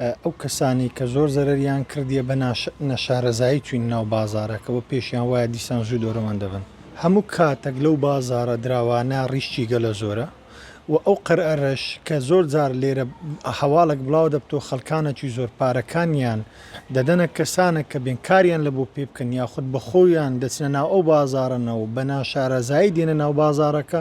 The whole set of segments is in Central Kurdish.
ئەو کەسانەی کە زۆر زەرەریان کردیە بە نەشارەزایی چوین ناو بازارەکەوە پێشیان وایە دیسان زوو دەرۆمان دەبەن. هەموو کاتەک لەو بازارە دراوانە ڕیشکی گەلە زۆرە و ئەو قەرئەرەش کە زۆر جار لێرە هەواڵەک بڵاو دەبتەوە خەلکانەکی زۆر پارەکانیان دەدەنە کەسانەک کە بێن کاریان لە بۆ پێ بکەن یاخود بە خۆیان دەچنە ناو ئەو بازارەنەوە بە ناشارەزایی دێنە ناو بازارەکە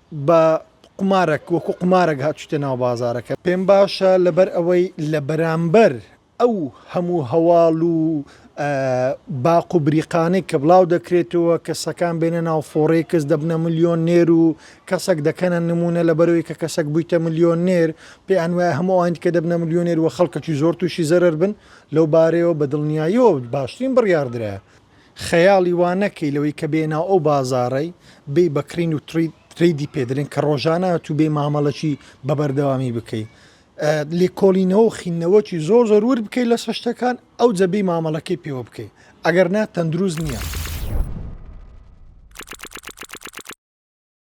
بە قومارەک وەکو قومارەک هاتوویتە ناو بازارەکە پێم باشە لەبەر ئەوەی لە بەرامبەر ئەو هەموو هەواڵ و باق و بریقانەی کە بڵاو دەکرێتەوە کە سەکان بێنە ناو فۆڕێ کەس دەبنە ملیۆن نێر و کەسەک دەکەنە نمونە لە بەرەوەی کە کەسەک بوویتە ملیۆن نێر پێیان وایە هەموو ئەوانی کە دەبنە ملیۆنێر و خەڵکەکی زۆر تووشی زەرەر بن لەو بارەیەوە بە دڵنیاییەوە باشترین بڕیاردرایە خەیاڵی وا نەکەی لەوەی کە بێی ناو ئەو بازاڕەی بێی بە کڕین و ترەیدی پێ دەرێن کە ڕۆژانە تووبێی مامەڵەکی بە بەردەوامی بکەی لێکۆڵینەوە و خینەوەکی زۆر زۆر ور بکەی لەسە شتەکان ئەو جەبی مامەڵەکەی پێوە بکەی ئەگەر نا تەندروست نییە.